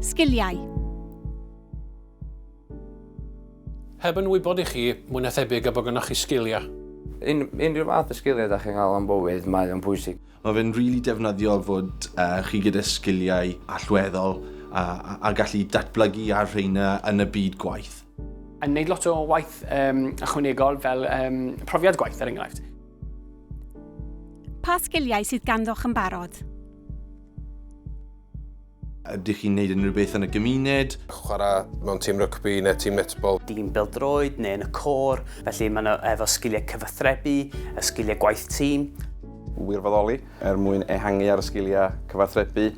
Sgiliau. Heb yn wybod i chi, mwy na thebyg y bod gynnwch chi sgiliau. Un, unrhyw fath o sgiliau da chi'n cael am bywyd, mae o'n pwysig. Mae fe'n rili really defnyddiol fod uh, chi gyda sgiliau allweddol a, a, a gallu datblygu ar rheina yn y byd gwaith. Yn gwneud lot o waith um, ychwanegol fel um, profiad gwaith ar er enghraifft. Pa sgiliau sydd ganddoch yn barod? Ydych chi'n gwneud unrhyw beth yn y gymuned? Chwarae mewn tîm rygbi neu tîm netbol. Dîm bêl-droed neu yn y côr. Felly maen nhw efo sgiliau cyfathrebu, y sgiliau gwaith tîm. Wirfoddoli er mwyn ehangu ar y sgiliau cyfathrebu.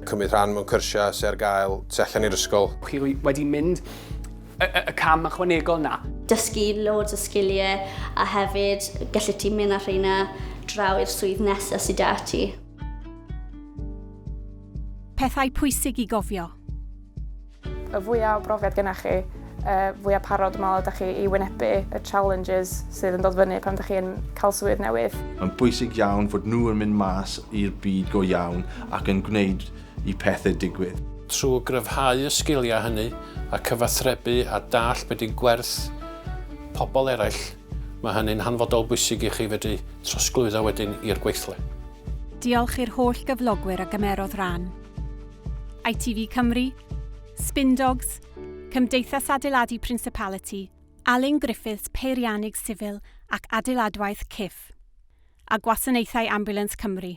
Cymryd rhan mewn cyrsiau sydd ar gael tu allan i'r ysgol. Chi wedi mynd y cam ychwanegol 'na. Dysgu loads o sgiliau a hefyd gallu ti mynd â rheina draw i'r swydd nesaf sydd 'da ti. Pethau pwysig i gofio. Y fwya o brofiad gennych chi, y fwya parod dwi'n meddwl ydych chi i wynebu y challenges sydd yn dod fyny pan ydych chi'n cael swydd newydd. Mae'n bwysig iawn fod nhw yn mynd mas i'r byd go iawn ac yn gwneud i pethau digwydd. Trwy gryfhau y sgiliau hynny a cyfathrebu a dallt beth yw gwerth pobl eraill, Mae hynny'n hanfodol bwysig i chi fedru trosglwyddo wedyn i'r gweithle. Diolch i'r holl gyflogwyr a gymerodd ran. ITV Cymru, Spindogs, Cymdeithas Adeiladu Principality, Alun Griffiths Peiriannydd Sifil ac Adeiladwaith, CIF, a Gwasanaethau Ambiwlans Cymru.